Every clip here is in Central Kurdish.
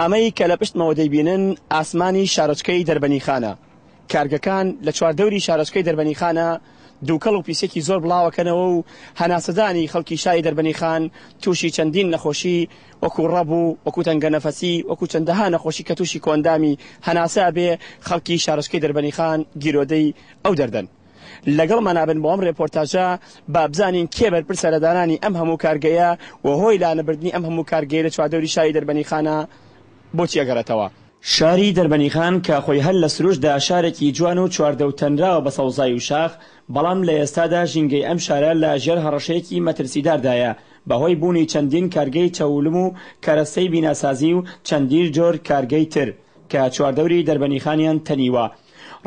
ئەمەی کە لە پشتمەوە دەیبینن ئاسمانی شارۆچکەی دەربەنیخانە. کارگەکان لە چواردەوری شارۆچکەی دەربەنیخانە دووکەڵ و پیسێکی زۆر بڵاوەکەنەوە و هەناسەدانی خەڵکی شاری دەربەنیخان تووشی چەندین نەخۆشی وەکو ڕەب و وەکو تەنگەنەفەسی وەکو چەندەها نەخۆشی کە تووشی کۆئەندامی هەناسە ئەبێ خەڵکی شارۆچکەی دەربەنیخان گیرۆدەی ئەو دەردەن. لەگەڵمانابن بۆ ئەم رێپۆرتاژە بابزانین کێ بەرپرسە لە دانانی ئەم هەموو کارگەیە و هۆی لانەبردنی ئەم هەموو کارگەیە لە چواردەوری شاری دەربەنیخانە بۆچی ئەگەڕێتەوە؟ شاری دەربەنیخان کە خۆی هەر لە سروشتدا شارێکی جوان و چواردەو تەنراوە بە سەوزای و شاخ، بەڵام لە ئێستادا ژینگەی ئەم شارە لە ژێر هەڕەشەیەکی مەترسیداردایە بە هۆی بوونی چەندین کارگەی چەوولم و کەرەستەی بیناسازی و چەندین جۆر کارگەی تر کە چواردەوری دەربەنیخانیان تەنیوە.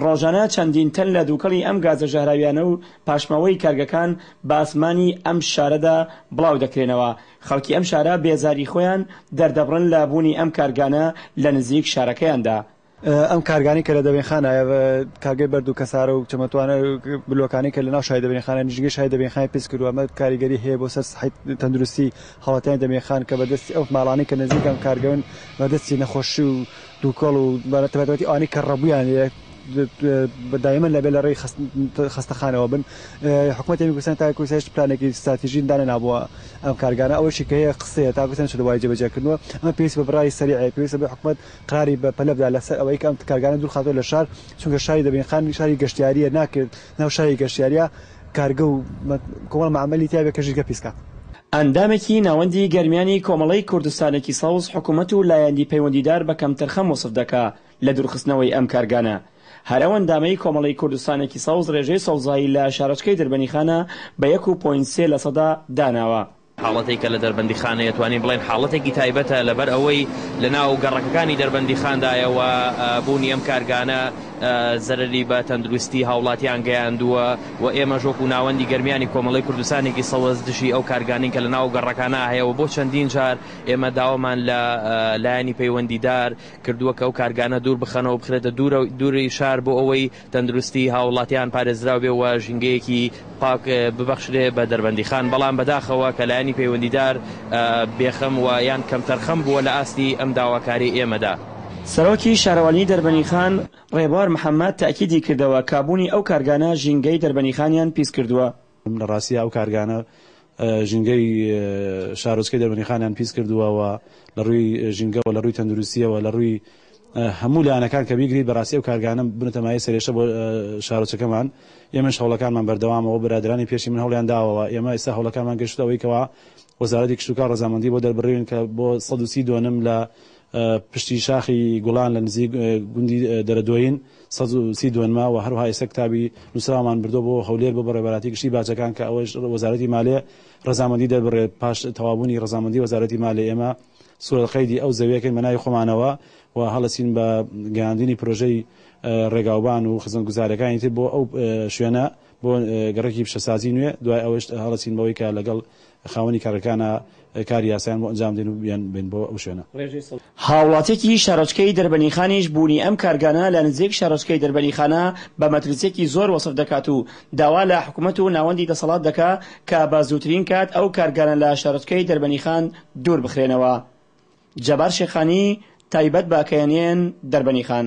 ڕۆژانە چەندین تەن لە دووکەڵی ئەم گازە ژەهراویانە و پاشماوەی کارگەکان بە ئاسمانی ئەم شارەدا بڵاو دەکرێنەوە، خەڵکی ئەم شارە بێزاری خۆیان دەردەبڕن لە بوونی ئەم کارگانە لە نزیک شارەکەیاندا. ئەم کارگانەی کە لە دەبەینخانە، کارگەی بەرد و کەسارە و چەمەتوانە و بلۆکانەی کە لە ناو شاری دەبەینخانە نیشتگەی شاری دەبەینخانی پیس کردووە، ئەمە کاریگەری هەیە بۆ سەر سەحەی تەندروستی هاوڵاتیانی دەبەینخان کە بە دەستی ئەو ماڵانەی کە نزیک ئەم کارگەون بە دەستی نەخۆشی و دووکەڵ و بە تایبەتی ئەوانەی کە ڕەبوویان لێیە دایمەن لەبێ لە ڕێی خەستەخانەوە بن حکوومەتی کوردستان تا کوردستان هیچ پلانێکی ستراتیژی دانەنابووە ئەم کارگانە ئەوەشی کە هەیە قسەیە تا کوردستان شەدەوای جێبەجێکردنەوە ئەمە پێویست بە بڕای سەریعە پێویستە بە حکوومەت قراری بە پەلە بدا لەسەر ئەوەی کە ئەم کارگانە دوور خاتووە لە شار چونکە شاری دەبینخان شاری گەشتیارییە ناکرێت ناو شاری گەشتیارییە کارگە و کۆمەڵە مەعمەلی تیا بێت کە ژینگە پیس کات. ئەندامێکی ناوەندی گەرمیانی کۆمەڵەی کوردستانێکی سەوز حکومەت و لایەندی پەیوەندیدار بە کەمتەرخەم وەسف دەکا لە دوورخستنەوەی ئەم کارگانە. هەر ئەو ئەندامەی کۆمەڵەی کوردستانێکی سەوز رێژەی سەوزایی لە شارۆچکەی دربەنیخانە بە یەک و پۆینت سێ لەسەدا داناوە. حاڵەتێک کە لە دەربەندیخانەیە توانین بڵێین حاڵەتێکی تایبەتە لەبەر ئەوەی لە ناو گەڕەکەکانی دەربەندیخاندایە و بوونی ئەم کارگانە زەرەری بە تەندروستی هاوڵاتیان گەیاندووە و ئێمەش وەکو ناوەندی گەرمیانی کۆمەڵی کوردستانێکی سەوەز دژی ئەو کارگانین کە لە ناو گەڕەکانە هەیە و بۆ چەندین جار ئێمە داوامان لە لایەنی پەیوەندیدار کردووە کە ئەو کارگانە دوور بخەنەوە بخرێتە دوورە دووری شار بۆ ئەوەی تەندروستی هاووڵاتیان پارێزراو بێ و ژینگەیەکی پاک ببەخشرێ بە دەربەندیخان، بەڵام بەداخەوە کە لایەنی پەیوەندیدار بێخەم و یان کەمتەرخەم بووە لە ئاستی ئەم داواکاریی ئێمەدا. سەرۆکی شارەوانیی دەربەنیخان ڕێبوار محەممەد تەئکیدی کردەوە کە بوونی ئەو کارگانە ژینگەی دەربەنیخانیان پیس کردووە، لە ڕاستیدا ئەو کارگانە ژینگەی شارۆچکەی دەربەندیخانیان پیس کردووە و لە ڕووی ژینگەوە، لە ڕووی تەندروستییەوە، لە ڕووی هەموو لایەنەکان کە بیگریت بەڕاستی ئەو کارگانە بوونەتە مایەی سەرێشە بۆ شارۆچەکەمان. ئێمەش هەوڵەکانمان بەردەوامە و برادەرانی پێشی من هەوڵیان داوە و ئێمە ئێستا هەوڵەکانمان گەشتووتە ئەوەی کەوا وەزارەتی کشتوکاڵ ڕەزامەندی بۆ دەربڕیون کە بۆ سەد و سی دۆنم لە پشتی شاخی گوڵان لە نزیک گوندی دەرەدۆین سەد و سی دۆنمە وە هەروها ئێستا کتابی نوسراومان بردوە بۆ هەولێر بۆ بەڕێوەبەراتی گشتی باجەکان کە ئەوەش وەزارەتی مالێ رەزامەندی دەربڕێت پاش تەوابونی رەزامەندی وەزارەتی مالێ ئێمە سورە قەیدی ئەو زەویەکەین بەناوی خۆمانەوە و هەڵەسین بە گەیاندنی پرۆژەی ڕێگاوبان و خزمەتگوزارەکانی تر بۆ ئەو شوێنە بۆ گەڕەکی پیشەسازی نوێ دوای ئەوەش هەڵەسین بەوەی کە لەگەڵ خاوەنی کارگەکانە کاری یاسایان بۆ ئەنجام بدەین و بیانبەین بۆ ئەو شوێنە. هاوڵاتیەکی شارۆچکەی دەربەنیخانیش بوونی ئەم کارگانە لە نزیک شارۆچکەی دەربەنیخانە بە مەترسیەکی زۆر وەسف دەکات و داوا لە حکومەت و ناوەندی دەسەڵات دەکا کە بە زووترین کات ئەو کارگانە لە شارۆچکەی دەربەنیخان دوور بخرێنەوە. جەبار شێخانی، تایبەت بە کەیەنێن، دەربەنیخان.